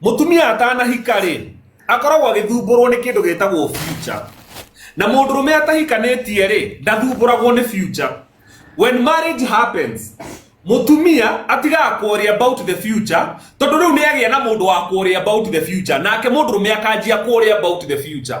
mutumia atanahika ri akoragwo agithumburwo ni kindu gitagwo future na mundu rume atahikanitie ri ndathumburagwo ni future when marriage happens mutumia atigaga kuoria about the future tondu riu ni agia na mundu wa kuoria about the future nake mundu rume akanjia kuoria about the future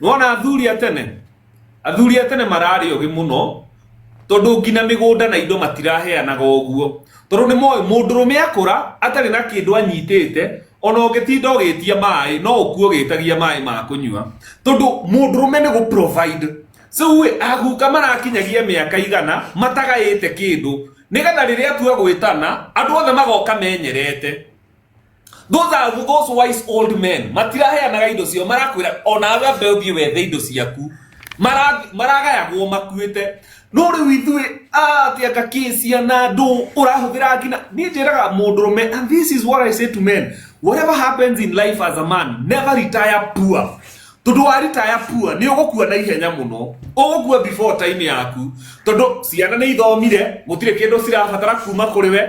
wona athuri a tene athuri a tene mararĩ ũgĩ mũno tondũ nginya mĩgũnda na indo matiraheanaga ũguo tondũ nĩ moĩ mũndũrũme akũra atarĩ na kĩndũ anyitĩte ona ũngĩtinda ũgĩtia maĩ no ũkuo ũgĩtagia maĩ ma kũnyua tondũ mũndũrũme nĩ gũprovide rĩu aguka marakinyagia mĩaka igana matagaĩte kĩndũ nĩgetha rĩrĩa atua gwĩtana andũ othe magoka menyerete those are those wise old men matiraheanaga indo ciao marakwira ona we ambe uthie wethe indo ciaku Mara- maragayagwo makuite no riu ithuĩ atia kakĩcia na ndũ ũrahũthĩra nginya niĩ njĩraga mũndũrũme and this is what i say to men whatever happens in life as a man never retire poor tondå waritaya pua nä å gå kua na ihenya må no å gå kua before time yaku tondå ciana nä ithomire gå tirä kä ndå cirabatara kuma kå rä we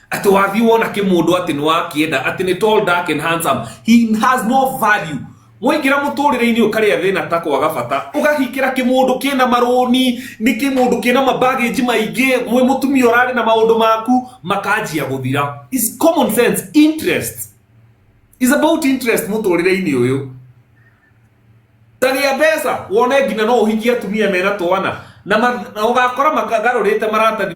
Ati wathi wona kimundu ati ni wakienda ati ni tall dark and handsome he has no value mwaingira muturire-ini ukaria thina ta kwaga bata ugahikira kimundu kina maruni ni kimundu kina mabageji maingi mwe mutumia urari na maundu maku makanjia guthira is common sense interest is about interest muturire-ini uyu taria mbeca wone nginya no uhikie atumia mena twana na ma- na ugakora makagarurite marata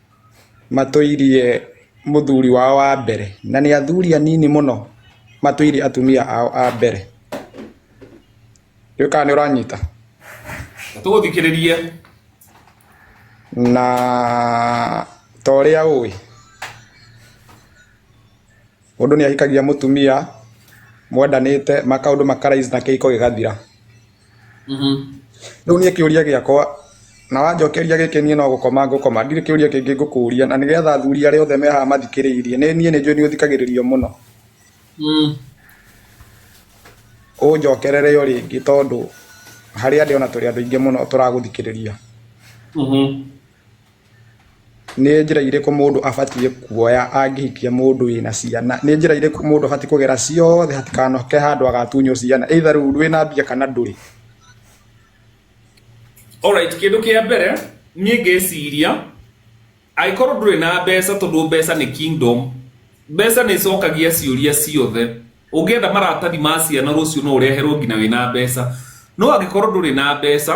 matũirie mũthuri wao wa mbere, na nĩ athuri anini mũno matũire atumia ao a mbere. Ndiũĩ kana nĩ ũranyita. Tũgũthikĩrĩrie. Na ta ũrĩa ũĩ. Mũndũ nĩ ahikagia mũtumia mwendanĩte makaũndũ makaraiz na kĩhiko gĩgathira. Rĩu niĩ kĩũria gĩakwa na wanjokeria gĩkĩ niĩ no gũkoma ngũkoma ndirĩ kĩũria kĩngĩ ngũkũria na nĩgetha athuri arĩa othe me haha mathikĩrĩirie nĩ niĩ nĩ njũĩ nĩ ũthikagĩrĩrio mũno. Ũnjokerere o rĩngĩ tondũ harĩa ndĩ ona tũrĩ andũ aingĩ mũno tũragũthikĩrĩria. Nĩ njĩra irĩkũ mũndũ abatiĩ kuoya angĩhikia mũndũ wĩna ciana? Nĩ njĩra irĩkũ mũndũ abatiĩ kũgera ciothe hatikanoke handũ agatunywo ciana either rĩu wĩna mbia kana ndũrĩ? Alright, kĩndũ kĩa mbere niĩ ngeciria angĩkorwo ndũrĩ na mbeca tondũ mbeca nĩ kingdom, mbeca nĩ ĩcokagia ciũria ciothe. Ũngĩenda maratathi ma ciana rũciũ no ũreherwo nginya wĩna mbeca. No angĩkorwo ndũrĩ na mbeca...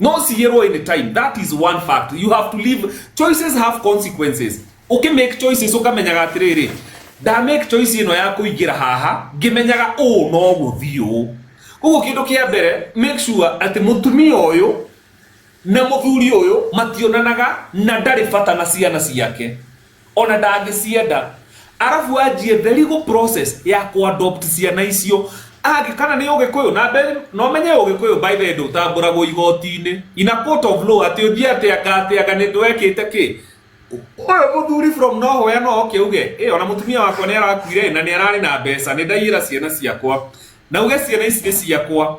no cigĩrwo any time that is one fact you have to live choices have consequences uki make choices ukamenyaga atiriri nda make choice ino ya kuingira haha ngimenyaga u no guthii u koguo kindu kia mbere make sure ati mutumia uyu na muthuri uyu mationanaga na ndari bata na ciana ciake Ona ndangĩcienda. Arabu anjie the legal process ya kũ adopt ciana icio. Angĩ kana nĩ ũgĩkũyũ na mbe no menye ũgĩkũyũ by the way ndũtambũragwo igoti-inĩ. In a court of law atĩ ũthiĩ atĩ anga atĩ anga nĩ ndwekĩte kĩ. Ũyũ mũthuri from nowhere no oke uge ĩ ona mũtumia wakwa nĩ arakuire na nĩ ararĩ na mbeca nĩ ndaiyĩra ciana ciakwa. Na uge ciana ici nĩ ciakwa.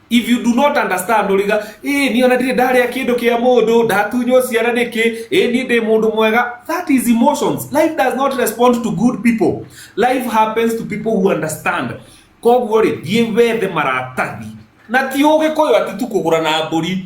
if you do not understand uriga eh ni ona ndire ndarĩa kĩndũ kĩa mũndũ ndatunywo ciara nĩkĩ eh ni ndĩ mũndũ mwega that is emotions life does not respond to good people life happens to people who understand koguo rĩ thiĩ wethe maratathi na ti ũgĩkũyũ ati tu kũgũra na mbũri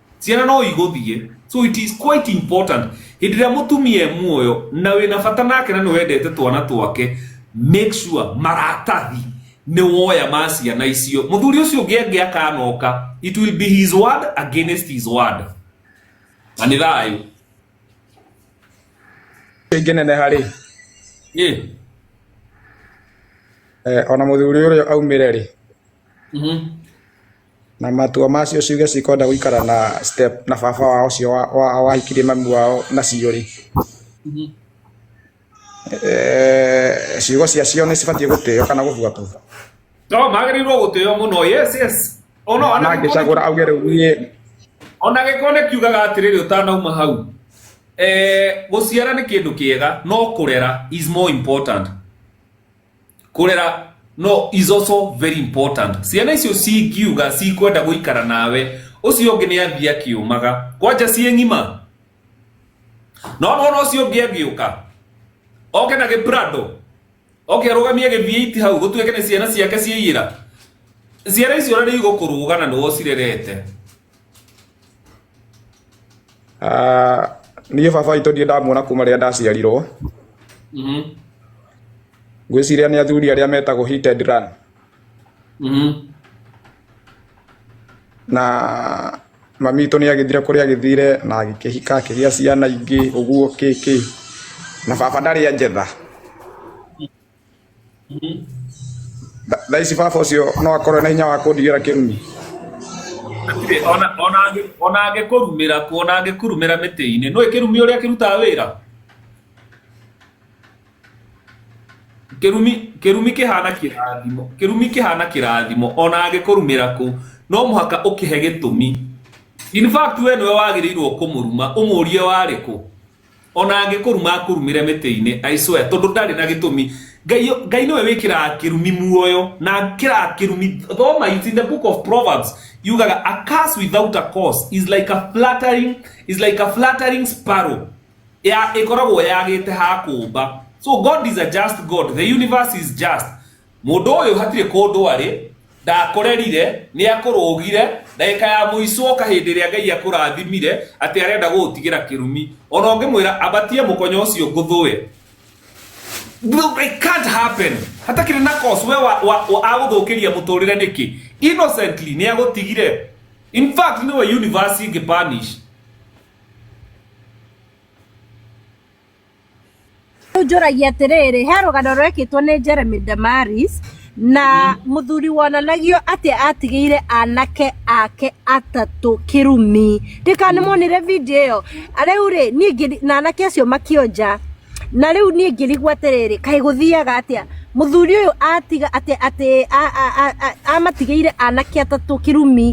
ciana no igũthiĩ so it is quite important hĩndĩ ĩrĩa mũtumia e muoyo na wĩna bata nake na nĩ wendete twana twake make sure maratathi nĩ woya ma ciana icio mũthuri ũcio ũngĩ angĩ akanoka it will be his word against his word na nĩ thayũ ĩngĩ nene harĩ Ĩ, eh, ona mũthuri ũrĩa aumĩre rĩ mhm. Na matua macio ciũge cikwenda gũikara na step na baba wao ũcio wa- wa- wahikirie mami wao na cio rĩ eh, ciugo cia cio nĩ cibatiĩ gũtĩo kana gũbuatwo no magĩrĩirwo gũtĩo mũno yes yes ona ona gĩko- nangĩcagũra auge rĩu niĩ ona gĩko nĩ kiugaga atĩrĩrĩ ũtanauma hau eh, gũciara nĩ kĩndũ kĩega no kũrera is more important kurera no is also very important ciana icio cingiuga cikwenda guikara nawe ucio ungi ni athia kiumaga kwanja ciĩ ng'ima no nona ucio ungi angiuka oke na giprado oke arugamie githiiti hau gutuike ni ciana ciake ciaiyira ciana icio na ni igũkũrũgana nĩ wocirerete Ah, niĩ baba witũ ndirĩ ndamuona kuma rĩrĩa ndaciarirwo Mhm. ngwĩciria nĩ athuri arĩa metagwo hit and run Mhm. na mami witũ nĩ agĩthire kũrĩa agĩthire na agĩkĩhika akĩgĩa ciana ingĩ ũguo kĩkĩ na baba ndarĩ anjetha thaa ici baba ũcio no akorwo na hinya wa kũndigĩra kĩrumi Hatirĩ, ona- ona angĩ- ona angĩkũrumĩra kuo ona angĩkurumĩra mĩtĩ-inĩ nũĩ kĩrumi ũrĩa kĩrutaga wĩra kĩrumi kĩrumi kĩhana kĩrathimo kĩrumi kĩhana kĩrathimo ona angĩkũrumĩra kũ no mũhaka ũkĩhe gĩtũmi in fact we nĩwe wagĩrĩirwo kũmũruma ũmũrie warĩ kũ ona angĩkũruma akũrumĩre mĩtĩ-inĩ I swear tondũ ndarĩ na gĩtũmi ngai ngai nĩwe wĩkĩraga kĩrumi muoyo na kĩraga kĩrumi thoma it's in the book of proverbs yugaga a curse without a cause is like a flattering is like a flattering sparrow ya ĩkoragwo yagĩte ha kũmba so god is a just god the universe is just Mũndũ ũyũ hatirĩ kũndũ arĩ, ndakũrerire, nĩakũrũgire, ndagĩka ya mũico oka hĩndĩ ĩrĩa Ngai akũrathimire, atĩ arenda gũgũtigĩra kĩrumi. Ona ũngĩmwĩra ambatie mũkonyo ũcio ngũthũe, it can't happen. Hatakĩrĩ na cause, we wa, wa, wa, agũthũkĩria mũtũrĩre nĩkĩ? Innocently nĩagũtigire. In fact nĩwe universe ingĩ punish. Rĩu njũragia atĩrĩrĩ, he rũgano rwekĩtwo nĩ Jeremy Damaris na mũthuri wonanagio atĩ atigĩire anake ake atatũ kĩrumi. Ndĩka nĩ muonire video ĩyo? Rĩu rĩ, niĩ ngĩri- na anake acio makĩonja. Na rĩu niĩ ngĩrigwo atĩrĩrĩ, kaĩ gũthiaga atĩa? Mũthuri ũyũ atiga atĩ atĩ a- a- a- a- amatigĩire anake atatũ kĩrumi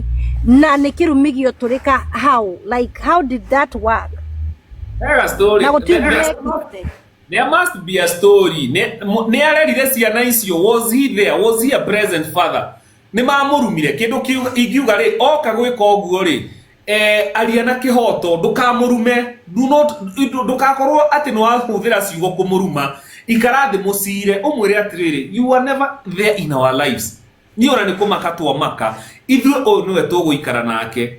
na nĩ kĩrumi gĩotũrĩka how? Like how did that work? There a story. Na gũtirĩ There- there's ndĩrekĩte. not- There must be a story. Ne- mu- Nĩ arerire ciana icio. Was he there? Was he a present father? Nĩ mamũrumire. Kĩndũ kĩu ingiuga rĩ, oka gwĩka ũguo rĩ, eh, aria na kĩhoto ndũkamũrume Do not- ndũ- ndũgakorwo atĩ nĩ wahũthĩra ciugo kũmũruma ikara thĩ mũcire ũmwĩre atĩrĩrĩ you were never there in our lives niĩ ona nĩ kũmaka twamaka ithuĩ ũyũ nĩwe tũgũikara nake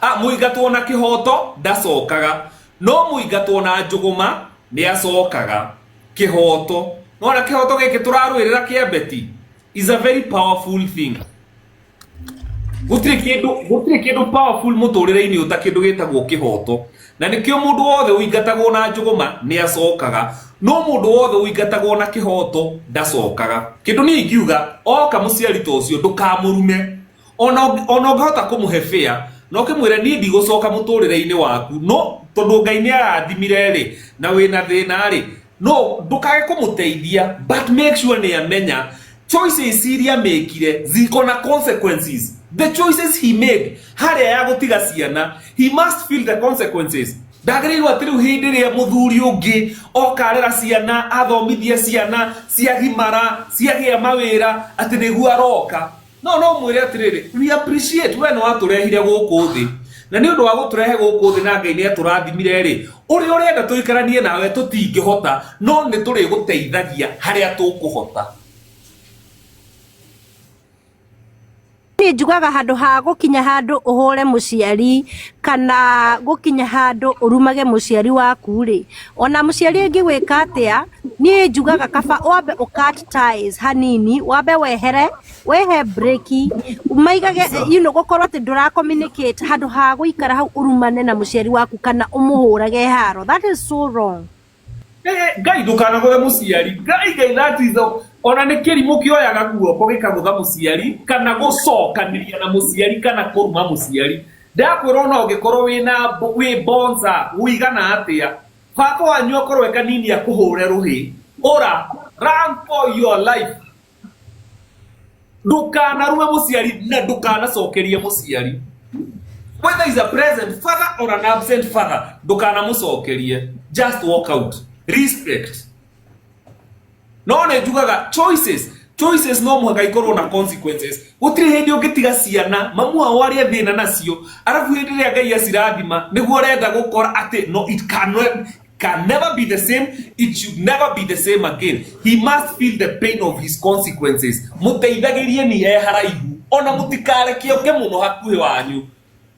A, Mũingatwo na kĩhooto ndacokaga, no mũingatwo na njũgũma nĩacokaga. Kĩhooto. Nĩwona kĩhooto gĩkĩ tũrarũĩrĩra kĩa Betty is a very powerful thing. Gũtirĩ kĩndũ gũtirĩ kĩndũ powerful mũtũrĩre-inĩ ũta kĩndũ gĩtagwo kĩhooto. Na nĩkĩo mũndũ wothe ũingatagwo na njũgũma nĩacokaga, no mũndũ wothe ũingatagwo na kĩhooto ndacokaga. Kĩndũ niĩ ingiuga, oka mũciari ta ũcio ndũkamũrume, ona ũngĩ- ona ũngĩhota kũmũhe bĩa no kĩmwĩre niĩ ndigũcoka mũtũrĩre-inĩ waku no tondũ ngai nĩ arathimire rĩ na wĩna thĩna rĩ no ndũkage kũmũteithia but make sure nĩ amenya choices iria mekire ziko na consequences the choices he made harĩa ya gũtiga ciana he must feel the consequences ndagĩrĩirwo atĩ rĩu hĩndĩ ĩrĩa mũthuri ũngĩ okarera ciana athomithie ciana ciagimara ciagĩa mawĩra atĩ nĩguo aroka No no mwĩre atĩrĩrĩ, we appreciate we nĩ watũrehire gũkũ thĩ na nĩ ũndũ wa gũtũrehe gũkũ thĩ na Ngai nĩ atũrathimire rĩ, ũrĩa ũrenda tũikaranie nawe tũtingĩhota, no nĩ tũrĩgũteithagia harĩa tũkũhota. Niĩ njugaga handũ ha gũkinya handũ ũhũre mũciari kana gũkinya handũ ũrumage mũciari waku rĩ, Ona mũciari angĩgwĩka atĩa, niĩ njugaga kaba wambe ũ cut ties hanini, wambe wehere, wehe break, maigage you know gũkorwo atĩ ndũra communicate handũ ha gũikara hau ũrumane na mũciari waku kana ũmũhũrage haro. That is so wrong. Eh, ngai ndukanaguthe muciari ngai ngai that is the- ona nä kä rimå kä oyaga guoko gä kagutha må ciari kana gå cokaniria na må ciari kana kå ruma må ciari Ndakwĩra ona ũngĩkorwo wĩna wĩ bonza wũigana atĩa, baba wanyu akorwo e kanini akũhũre rũhĩ, ũra, run for your life. Ndũkanarue mũciari na ndũkanacokerie mũciari. Whether is a present father or an absent father, ndũkanamũcokerie. Just walk out. Respect. no nä njugaga choices choices no mũhaka ikorwo na consequences gũtirĩ hĩndĩ ũngĩtiga ciana mamu ao arĩa thĩna nacio arabu hĩndĩ ĩrĩa ngai acirathima nĩguo ũrenda gũkora atĩ no it can, can never be the same it should never be the same again he must feel the pain of his consequences mũteithagĩrie ni e haraihu ona mũtikareke ũke mũno hakuhĩ wanyu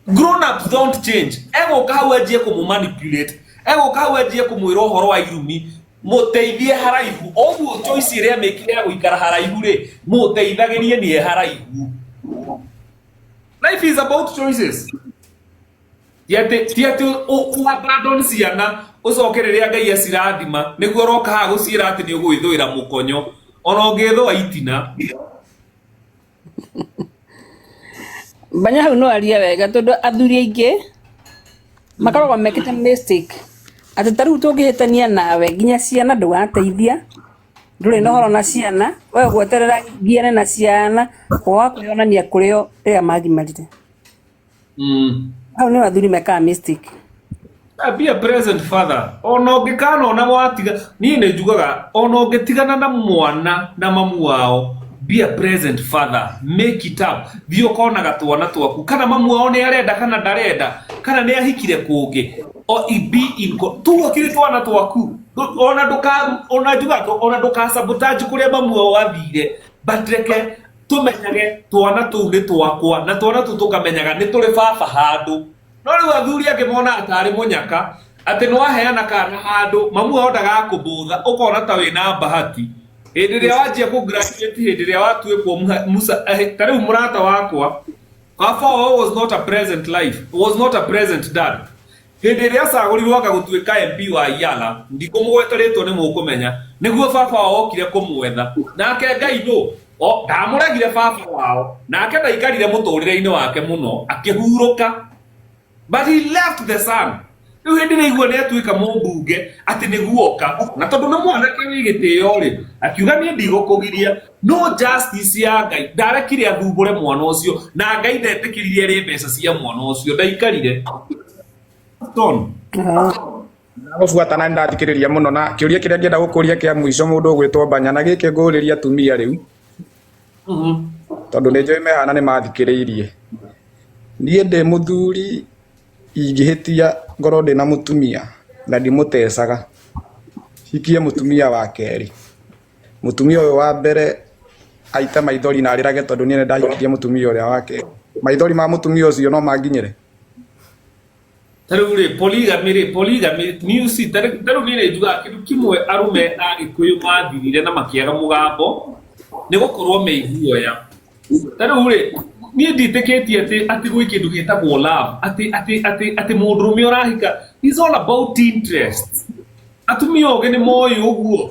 grown ups don't change egũka hau anjie kũmũ manipulate egũka hau anjie kũmwĩra ũhoro wa irumi mũteithie haraihu ũguo choice ĩrĩa mĩkire ya gũikara haraihu rĩ mũteithagĩrie nĩ e haraihu life is about choices ti atĩ ti atĩ ũabandon ciana ũcoke rĩrĩa ngai acirathima nĩguo ũroka haha gũciĩra atĩ nĩ ũgwĩthũĩra mũkonyo ona ũngĩthũa itina mbanya hau no arie wega tondu athuri aingi makoragwo mekite mistake ati ta riu tungihitania nawe nginya ciana ndugateithia nduri na horo na ciana we gweterera ngiane na ciana wakwionania kurio riria magimarire Mm. Hau nĩ wathuri mekaa mystic. Ah, be a present father ona ũngĩkana ona watiga niĩ nĩ njugaga ona ũngĩtigana na mwana na mamu wao be a present father make it up thiĩ ũkonaga twana twaku kana mamu wao nĩ arenda kana ndarenda kana nĩ ahikire kũngĩ O- i- be in co- tuo kiri twana twaku Ndũ- ona ndũka ona njugaga ona ndũka sabotage kũrĩa mamu wao athire but reke tũmenyage twana tũu nĩ twakwa na twana tũu tũkamenyaga nĩ tũrĩ baba handũ no rĩu athuri angĩ monaga tarĩ mũnyaka atĩ nĩ waheana kana handũ mamu wao ndagakũbũtha ũkona ta wĩna mbahati hĩndĩ ĩrĩa wanjia kũ graduate hĩndĩ ĩrĩa watuĩkwo muha- musa eh, ta rĩu mũrata wakwa baba wao was not a present life was not a present dad Hĩndĩ ĩrĩa aacagũrirũo anga gũtuĩka MP wa Yala, ndikũmũgweta rĩĩtwa nĩ mũkũmenya, nĩguo baba wao okire kũmwetha. Nake Ngai nũ? O, ndaamũregire baba wao. Nake ndaikarire mũtũũrĩre-inĩ wake mũno, akĩhurũka. But he left the son. Rĩu hĩndĩ ĩrĩa aigua nĩ atuĩka mũmbunge, atĩ nĩ guoka. Na tondũ nĩ mwanake wĩ gĩtĩo-rĩ, akiuga, Niĩ ndigũkũgiria. No justice ya Ngai ndarekire athumbũre mwana ũcio na Ngai ndetĩkĩrire rĩ mbeca cia mwana ũcio ndaikarire Stone. Nagobuata na ndathikiriria muno na kiuria kiria ngienda gukuria kia mwico mundu ugwitwo banya na giki nguriria atumia riu tondu ni njui mehana ni mathikiriirie nie ndi muthuri ingihitia ngoro ndi na mutumia na ndimutecaga hikie mutumia wa keri Mũtumia ũyũ wa mbere aite maithori na arĩrage tondũ niĩ ndahikirie mũtumia ũrĩa wake. Maithori ma mũtumia ũcio no manginyĩre? Tarĩu rĩ polygamy rĩ polygamy news tarĩu niĩ nĩ njugaga kĩndũ kĩmwe arũme a Gĩkũyũ mathirire na makĩaga mũgambo nĩ gũkorwo me iguoya. Tarĩu rĩ niĩ nditĩkĩtie atĩ atĩ gwĩ kĩndũ gĩtagwo love atĩ atĩ atĩ atĩ mũndũrũme ũrahika it's all about interest. Atumia ogĩ nĩ moĩ ũguo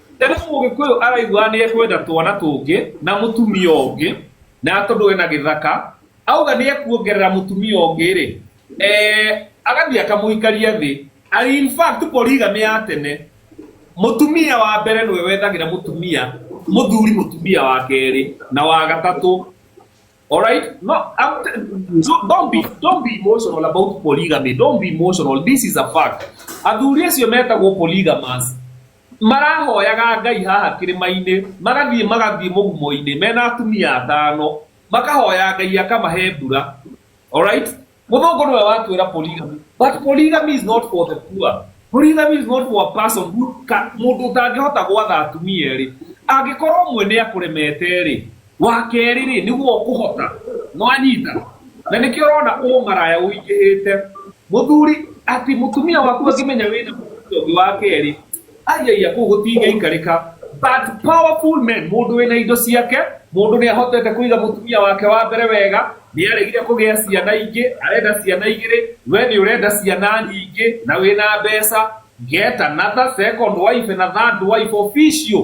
Na rĩu mũgĩkũyũ araiguaga nĩ ekwenda twana tũngĩ na mũtumia ũngĩ na tondũ ena gĩthaka auga nĩ ekuongerera mũtumia ũngĩ rĩ eh, agathiĩ akamũikaria thĩ Ari- in fact polygamy ya tene mũtumia wa mbere nĩwe wethagĩra mũtumia mũthuri mũtumia wa kerĩ na wa gatatũ Alright? No, I'm t- don't don't be don't be emotional about polygamy. Don't be emotional. This is a fact. Athuri acio metagwo polygamous. Marahoyaga Ngai haha kĩrĩma-inĩ, magathiĩ magathiĩ mũgumo-inĩ mena atumia atano, makahoya Ngai akamahe mbura. Alright? Mũthũngũ nĩwe watwĩra polygamy. But polygamy is not for the poor. Polygamy is not for a person who mũndũ ũtangĩhota gwatha atumia erĩ. Angĩkorwo ũmwe nĩ akũremete rĩ, wa kerĩ rĩ nĩguo ũkũhota nwanyita na nĩkĩo ũrona ũmaraya ũingĩhĩte mũthuri ati mũtumia waku angĩmenya wĩna mũtumia ũngĩ wa kerĩ aiaia kũu gũtingĩikarĩka but powerful men mũndũ wĩna indo ciake mũndũ nĩ ahotete kũiga mũtumia wake wa mbere wega nĩ aregire kũgĩa ciana ingĩ arenda ciana igĩrĩ we nĩ ũrenda ciana nyingĩ na wĩna mbeca get another second wife na third wife official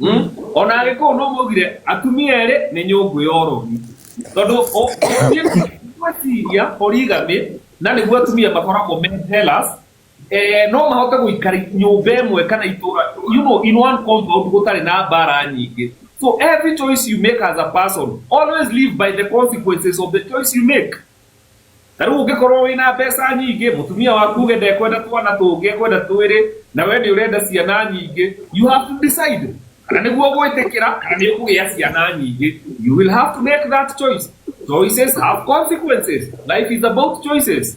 Mm? ona agĩkũũ no maugire atumia erĩ nĩ nyũngũ ya ũrogi tondũ ũ- ũthiĩ gwĩciria polygamy na nĩguo atumia makoragwo me jealous eh, no mahote gũikara nyũmba ĩmwe kana itũra you know, in one compound gũtarĩ na mbara nyingĩ so every choice you make as a person always live by the consequences of the choice you make ta rĩu ũngĩkorwo wĩna mbeca nyingĩ mũtumia waku uge ndekwenda twana tũngĩ ekwenda twĩrĩ na we nĩ ũrenda ciana nyingĩ you have to decide kana nĩguo gwĩtĩkĩra kana nĩ ũkũgĩa ciana nyingĩ you will have to make that choice choices have consequences life is about choices